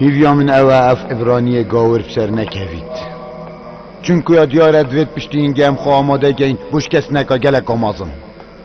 Hîviya min ew e ev Îbraniyê gawir bi ser nekevît. Çunkuya diyar e divê piştî hingê em xwe amade kein bo şikestineka geleka mezin.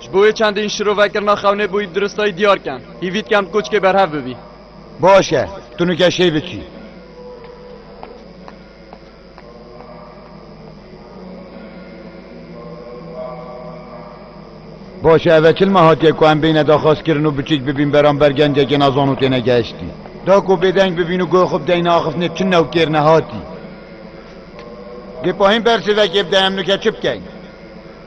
Ji bo wê çendîn şirovekirina xewnê bûyî bi diristayî diyar ken. Hîvî dikem bi koçikê berhev bibî. Baş e, tu nike şêy biçî. Baş e, ev e çilma hatiye ku em bêyne daxwazkirin û biçîk bibîn beramber gencekê nezan û têne gehiştî. Da ku bêdeng bibîn û guhê xwe bideyne axiftinê çi newkêr ne hatî. Dê pahîn bersivekê bide em nike çi bikeyn?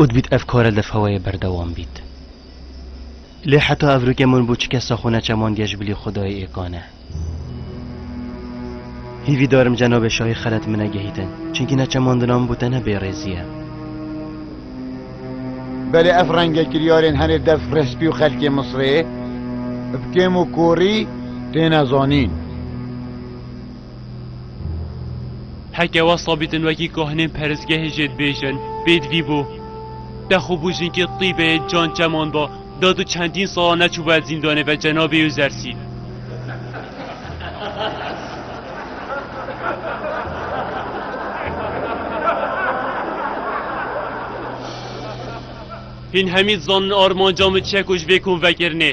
û dibît ev kare di feweyê berdewam bît. Lê heta ev rûkê min bû çike sax û neçeman diye ji bilî Xwedayê ê kane. Hîvî darim cenabê şahî xelet min negehîtin, çimkî neçeman di nav min bû tenê bêrêzî ye. Belê ev renge kiryarên herê dev respî û xelkê Misrê bi kêm û korî têne zanîn. Heke wesa bîtin wekî kahinên perizgehê jê dibêjin, pêdivî bû. Te xwe bû jinkê tîbeyê can çeman da, da tu çendîn sala neçûbûye zîndanê ve cenabê Yuzersî. Hîn hemî dizanin armanca min çi ye ku ji vê konvekirinê.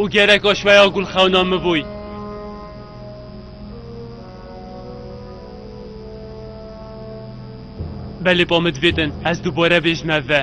û gerek aşweya gulxewna min bûy. Belê ba min divê din ez dubare bêjim ev ve.